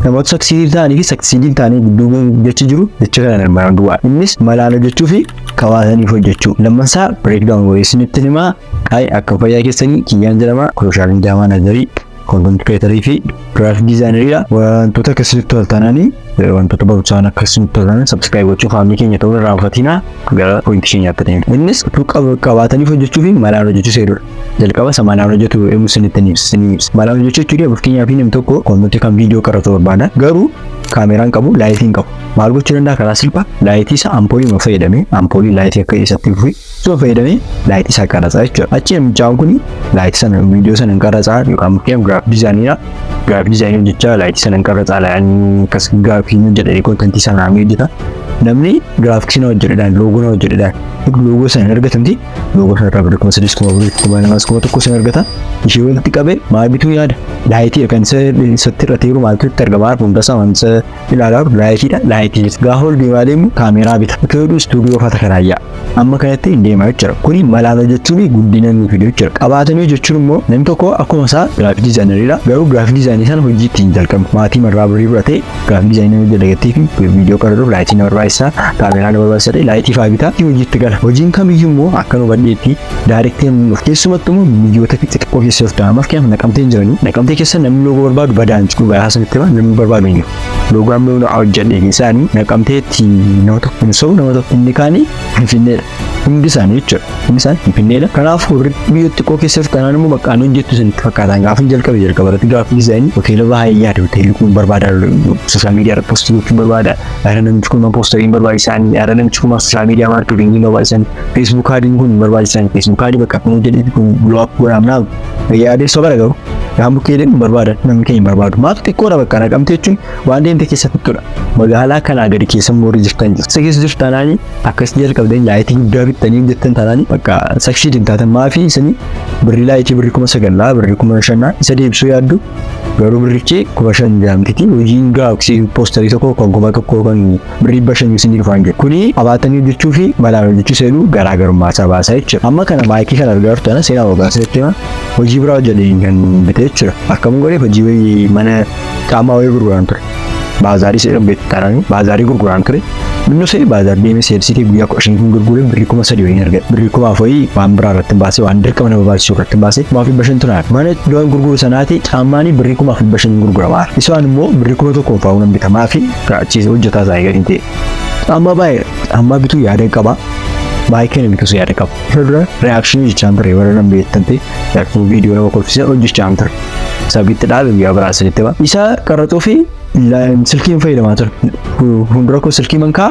Namoota saksiidiif ta'anii fi saksiidiif ta'anii gidduu jechi jiru jecha kana armaan duwwaa. Innis malaan hojjechuu fi kawaasaniif hojjechuu. Lammansaa breakdown wayii isinitti himaa. Hayi akka fayyaa keessanii kiyyaan jedhama. Sooshaal miidiyaa maanajarii, koontent kireetarii fi giraafik diizaayinariidha. Wantoota akka isinitti toltananii wantoota barumsaan akka isinitti toltanan sabskiraayib gochuun faamilii keenya ta'uu irraa hafatiinaa gara poointii keenyaatti deemna. Innis utuu qabaataniif hojjechuu fi malaan hojjechuu seerudha. jalqaba isa malaan hojjetu eemu isinitti ni ibsa isinii ibsa malaan hojjechuu jechuu dee fakkeenyaaf namni tokko koommitti kan viidiyoo qaratu barbaada garuu kaameraan qabu laayitii hin qabu maal gochuu danda'a karaa silphaa laayitii isa ampoolii ma fayyadamee ampoolii laayitii akka isatti fufi suma fayyadamee laayitii isaa qarasaa jechuudha achi namichaan kun laayitii sana viidiyoo sana hin qarasaa yookaan fakkeenyaaf giraafii dizaayiniidha giraafii dizaayinii hojjechaa laayitii sana hin qarasaa laayanii akkas giraafii hojjedhanii kontentii sana ni hojjeta namni giraafiksii na hojjedhedhaan loogoo na hojjedhedhaan loogoo sana hin argatamti Yoo gosa irraa bada kuma sadis kuma afurii kuma lamas kuma tokko sin argata. Ishee walitti qabee maal bituu yaada? Laayitii kan isa isatti irra teeru maaltu itti argama? Hunda isaa waan isa ilaalaa jiru laayitiidha. Laayitii gaafa ol deemaa deemu kaameeraa bita. Akka jedhu istuudiyoo fata kanaa yaa. Amma kanatti hin deemaa jechuudha. Kuni malaala jechuun guddina nuuf fiduu jechuudha. Qabaatanii jechuun immoo namni tokko akkuma isaa giraafii diizaayinariidha. Garuu giraafii diizaayinii sana hojii ittiin jalqabu maatii marraa birrii fudhatee Gaaffii dizaayinii hojii dagattee fi viidiyoo qaruuf laayitii na barbaachisa. Kaameeraa na barbaachisa ta'e laayitii fa'aa bitaa fi hojiitti gala. Hojiin kamiyyuu immoo akka nu badheetti daariktee nu dhufu. Keessumattuu immoo biyyoota xixiqqoo keessa yoo ta'an maaf kennaaf naqamteen jiranii naqamtee keessa namni loogoo barbaadu badaan jiru. Dhugaa haasanitti hima namni barbaadu hin jiru. Loogoo amma yoo na hojjedhe keessaanii naqamteetti nama tokko hin sobu nama tokko inni kaanii Finfinneedha. Hundi isaanii jechuudha. Hundi isaanii Finfinneedha. Kanaaf warri biyya xiqqoo keessaf kanaan immoo bakka ani hojjettu sanitti fakkaataan gaafa jalqabe jalqaba irratti gaafa dizaayinii hoteela baay'ee yaada hoteelli kun barbaada sooshaal miidiyaa irratti poostii gochuun barbaada yaada namichi kun poostariin barbaachisan yaada namichi kun sooshaal miidiyaa maarkeetingii barbaachisan feesbuuk kaadiin kun barbaachisan feesbuuk kaadii bakka kun hojjetetti kun blook godhaamnaaf yaadee sobara garuu yaa bukkeeleen barbaada namni keenya barbaadu maaf xiqqoodha bakka naqamte jechuun Waan deemte keessa fittudha. Magaalaa kanaa gadi keessa moorri jirtan jirtu. Isa keessa jirtu taanaan akkasitti jalqabdeen laayitii guddaa bittanii jettan taanaan bakka sakshiid hin taatan maafii isanii birrii laayitii birrii kuma sagallaa birrii kuma shannaa isa deebisuu yaaddu garuu birrichi kuma shan jaamtiti hojiin gaafsi poostarii tokko kan kuma tokko kan birrii dhibba shan isinii dhufaan jedhu. Kuni qabaatanii hojjechuu fi malaan hojjechuu seenuu garaagarummaa isaa baasaa jechuudha. Amma kana maayikii kana argaa jirtu ana seenaa hoggaasa jechuudha. Hojii biraa hojjetee kan bitee jechuudha. Akkam godhee hojii mana Caamaa wayii gurguraan ture. Baazaarii seera beektaaraan baazaarii gurguraan ture. Minnoo seera baazaar deemee seersii kee guyyaa kudha shaniif hin gurgure birrii kuma sadii wayii argadhe. Birrii kuma afurii waan biraa irratti hin baase waan dirqama nama baasu irratti hin baase kuma fi bashan tunaa. Mana doon gurguru sanaati caammaanii birrii kuma fi bashan hin gurgurama. Isaan immoo birrii kuma tokko fa'uu nan bitamaa fi raachiisa hojjetaa isaa eegalee ta'e. Caammaa baay'ee caammaa bituu yaada qaba. Baay'ee kana bitus yaada qaba. Irra dura reaction jechaan ture warra nan beektan ta'e. Yaakuu viidiyoo nama kolfisee hojjechaa hin ture. Sabiitti dhaabe guyyaa biraa sanitti ba. Isaa qarraxuu fi silkiin fayyadamaa ture. Fuuldura koo silkii mankaa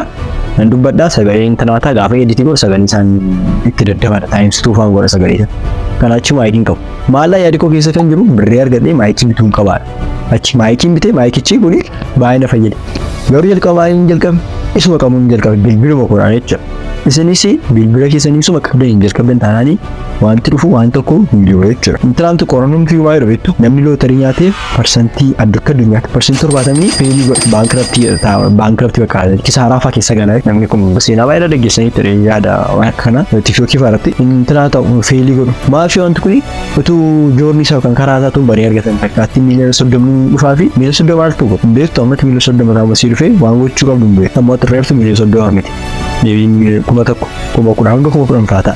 nan dubbadhaa sagalee intanaataa gaafa editii godhu sagalee isaan itti daddabala taa'imsituu faan godha sagalee isaa. Kan achi maayikiin qabu. Maallaa yaadi koo keessa kan jiru birrii argadhee maayikiin bituun qabaadha. Achi maayikiin bitee maayikichi kun baay'ee na fayyada. Garuu jalqaba maayikiin jalqabe isuma qabuun jalqabe bilbiluma koodhaan jechuudha. Isinis bilbila keessanii isuma qabdanii jalqabdan taanaanii Wanti dhufu waan tokko hin jiru jechuudha. Tiraamp qorannoon fi waa'ee dhufeettu namni lootarii nyaatee parsantii addunyaa addunyaatti parsantii torbaatamni feelii godha baankraptii ta'a baankraptii bakka kisaaraa fa'aa keessa gala namni kun seenaa baay'ee dhaggeessanii ture yaada waan akka kana tiktookii fa'aa irratti intinaa ta'u feelii godhu maafi wanti kun utuu joorni isaa kan karaa isaa tun barii argatan fakkaatti miiliyoona soddomni dhufaa fi miiliyoona soddoma artu godhu hin beektu ammatti miiliyoona soddoma raawwasii dhufee waan gochuu qabdu hin beektu ammoo xirreeftu miiliyoona soddoma miti deebiin kuma tokko kuma kudha hanga kuma kudhan fa'aa ta'a.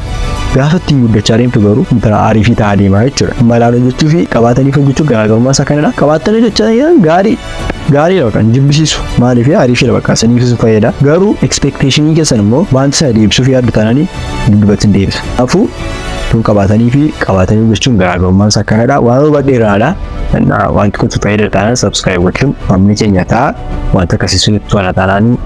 Gaafa ittiin guddachaa deemtu garuu intala aarii fi ta'aa deemaa jechuudha. Malaan hojjechuu fi qabaatanii hojjechuu garaagarummaa isaa kanadha. Qabaatanii hojjechaa jiran gaarii gaarii bakka hin jibbisiisu. Maaliif aarii fi bakka saniif isin fayyada. Garuu expectationii keessan immoo wanta sana deebisuuf yaaddu taananii duubatti hin deebisa. Kanaafuu tun qabaatanii fi qabaatanii hojjechuun garaagarummaan isaa kanadha. Waan hubadhe irraadha. Wanti kun fayyada taanaan subscribe gochuun maamila keenya ta'a. Wanta akkasii sun itti tola taanaanii